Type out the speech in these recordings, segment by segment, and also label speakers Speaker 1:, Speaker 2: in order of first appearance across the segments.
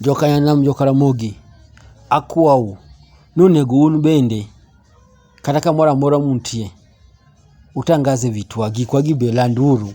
Speaker 1: Jokayanam, Jokaramogi, akwou ni onego un bende kata kamoro amora muntie, utangaze vitwa, gikwa gi be landuru.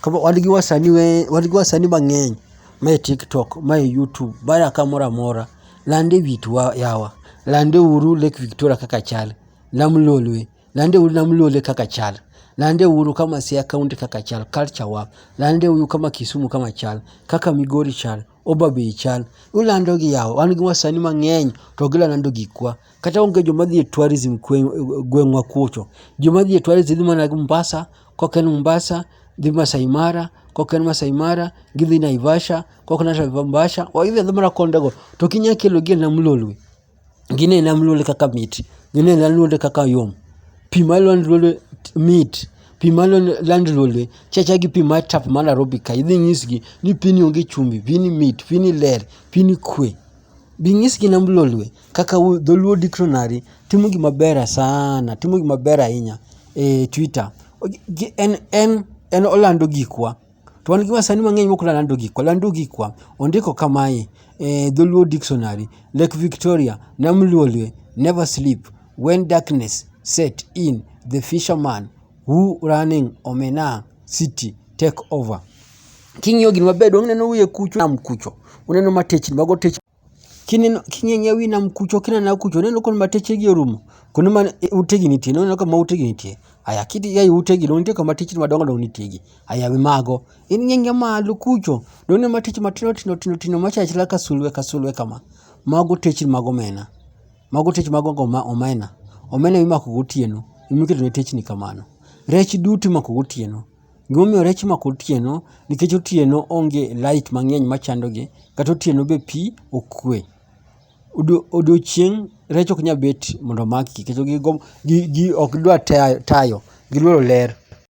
Speaker 1: Koro wan gi wasani we, wan gi wasani mang'eny mae TikTok, mae YouTube, mae a kamoro amora. Lande vitwa yawa, landeuru Lake Victoria kaka chal, nam lolwe. Lande uru nam lole kaka chal. Lande uru kama Siaya County kaka chal, culture wa. Lande uru kama Kisumu kama chal, kaka Migori chal, Homabay chal. Ulando gi yawa, wan gi wasani mang'eny to gilalando gikwa. Kata onge joma dhi e tourism gweng'wa kucho. Joma dhi e tourism dhi mana Mombasa, kok en Mombasa, dhi Masai Mara, kok en Masai Mara, gidhi Naivasha, kok Naivasha, gidhi adhi mana kondego. To kinya kelogi e nam lolwe. ginene aluonde kaka mit, ginene aluonde kaka yom. Pi ma aluonde aluonda mit, pi ma aluonde aluonda chal achal gi pi mar tap mar Nairobi kae. Idhi inyisgi ni pigni onge chumbi, pigni mit, pigni ler, pigni kwe. Bi inyisgi in Mlolwe kaka dholuo dictionary timo gima ber sana, timo gima ber ahinya e Twitter. En olando gikwa. To wan gi wasani mang'eny mok lando gikwa, lando gikwa. Ondiko kamae e Dholuo Dictionary, Lake Victoria, Nam Lolwe, never sleep, when darkness set in, the fisherman who running omena city take over. King'iyo gini maber donge ineno wiye kucho nam kucho? Uneno matechni, mago techni. Kineno king'iyo ewi nam kucho kineno ae kucho ineno koro ma techegi orumo kuonde ma utegi nitie ineno kama utegi nitie aya kidhi e utegi to nitie kama techni madongo dongo nitie gi aya wi mago ing'iyo ing'iya malo kucho to ineno mana techni matindo tindo tindo tindo ma chalo achala ka sulwe ka sulwe kama mago techni mag omena mago techni mag omena omena ema imako gotieno ema iketo ne techni kamano rech duto imako gotieno. Gima omiyo rech imako otieno nikech otieno onge light mangeny machandogi kata otieno be pii okwe. Odiochieng rech ok nyal bet mondo omaki nikech ok gidwa tayo, gidwaro ler